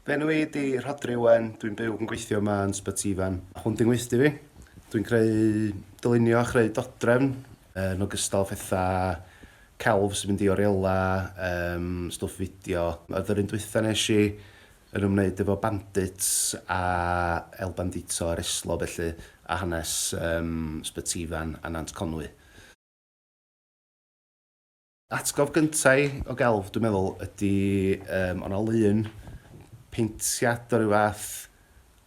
Fy enw i ydi Rhodri Owen, dwi'n byw ac yn gweithio yma yn Sbyt Ifan. Hwn di'n ngweithdy fi. Dwi'n creu dylunio a chreu dodrefn yn ogystal â phetha celf sy'n mynd i oriela, um, stwff fideo. Oedd yr un dwytha nes i yn ymwneud efo bandits a El Bandito a'r Eslo felly, a hanes um, Sbyt Ifan a Nant Conwy. Atgof gynta i o gelf dwi'n meddwl ydi yym o' 'na lun paentiad o ryw fath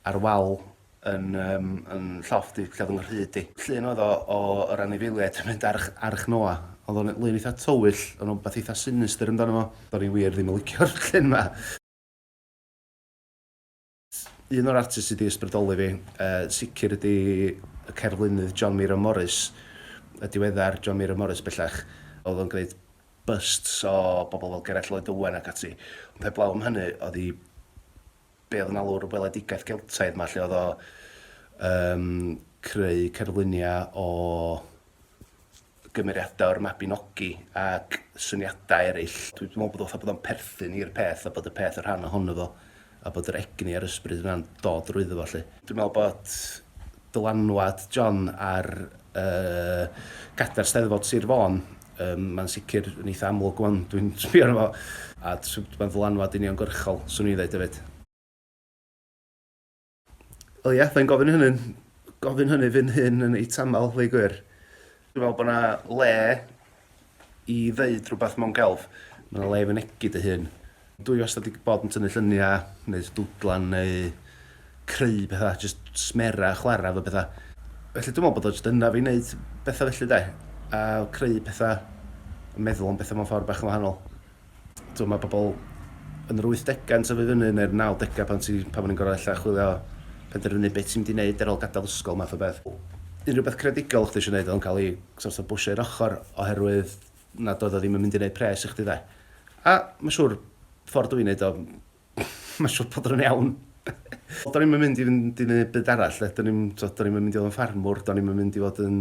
ar wal yn yym yn llofft i lle o'dd 'y nghryd i. Llun oedd o o yr anifeiliaid yn mynd ar Arch Noa. O'dd o'n lun eitha tywyll, o' 'na wbath eitha sinister amdano fo. Do'n i wir ddim yn licio'r llun 'ma. Un o'r artists sy 'di ysbrydoli fi yn sicr ydi y cerflunydd John Miro Morris, y diweddar John Miro Morris bellach. O'dd o'n gneud busts o bobl fel Gerallt Lloyd Owen ac ati. Ond heblaw am hynny o'dd 'i be' o'dd yn alw'r weledigaeth Geltaidd 'ma lle o'dd o yn creu cerflunia' o gymeriadau o'r Mabinogi ac syniadau eraill. Dwi meddwl bod o fatha bod o'n perthyn i'r peth a bod y peth yn rhan ohono fo a bod yr egni a'r ysbryd yna'n dod drwyddo fo 'lly. Dwi'n meddwl bod dylanwad John ar yy cadair Steddfod Sir Fôn yym mae'n sicr yn eitha amlwg ŵan dwi'n sbio arno fo a t- mae'n ddylanwad uniongyrchol 'swn i'n ddeud hefyd. Wel ie, da i'n gofyn hynny, gofyn hynny fi'n hyn yn ei tamol, ddweud gwir. Dwi'n meddwl bod yna le i ddeud rhywbeth mewn gelf. Mae yna le i fynegu dy hun. Dwi wastad wedi bod yn tynnu lluniau, neu dwdlan, neu creu pethau, jyst smera, chwarae fo bethau. Felly dwi'n meddwl bod o jyst yna fi wneud bethau felly de, a creu pethau, meddwl am bethau mewn ffordd bach yn wahanol. T'mo' ma' pobol yn yr wythdegau'n tyfu fyny neu'r nawdegau pan ti pan o'n i'n gor'o' ella chwilio penderfynu be' ti'n mynd i neud ar ôl gadal ysgol math o beth. Unrhyw beth creadigol o' chdi isio neud o'dd o'n ca'l 'i sort of bwshio i'r ochor oherwydd nad oedd o ddim yn mynd i neud pres i chdi 'de? A ma' siŵr ffor dwi'n neud o ma' siŵr bod o'n iawn. Do'n i'm yn mynd i fynd i neud byd arall 'de do'n i'm t'o' do'n i'm yn mynd i fod yn ffarmwr do'n i'm yn mynd i fod yn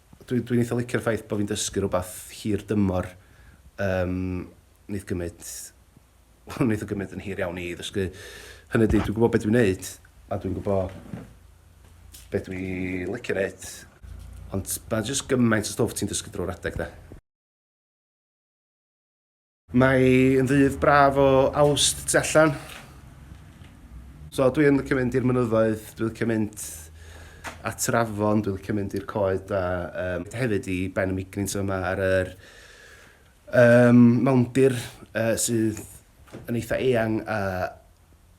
Dwi, dwi'n eitha licio'r ffaith bod fi'n dysgu rhywbeth hir dymor. Um, wneud gymryd... Wel, wneud o gymryd yn hir iawn i ddysgu. Hynny ydy, dwi'n gwybod beth dwi'n wneud, a dwi'n gwybod beth dwi'n licio wneud. Ond mae jyst gymaint o stwff ti'n dysgu drwy'r adeg, da. Mae yn ddydd braf o Awst tu allan. So dwi yn licio mynd i'r mynyddoedd, dwi licio mynd at yr afon, dwi licio mynd i'r coed a um, hefyd i Ben y Migrins yma ar yr um, mawndir uh, sydd yn eitha eang a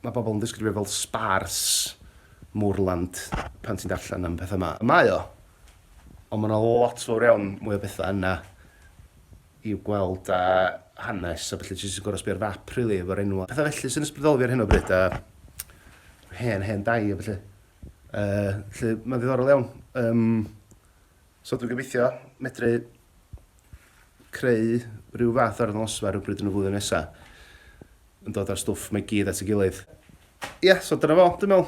mae bobl yn ddisgrifio fel spars moorland pan ti'n darllen am pethau yma. Mae o, ond mae yna lot fawr iawn mwy o bethau yna i'w gweld a hanes a ballu jyst yn gor'o' sbio ar fap rili efo'r enwa' petha felly sy'n ysbrydoli fi ar hyn o bryd a rhyw hen hen dai a ballu. Yy 'lly ma'n ddiddorol iawn yym so dwi'n gobeithio medru creu rhyw fath o arddangosfa rywbryd yn y flwyddyn nesa yn dod â'r stwff 'ma i gyd at ei gilydd. Ia so dyna fo dwi'n me'wl.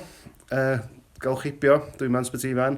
Yy galwch heibio dwi 'ma yn Sbyty Ifan.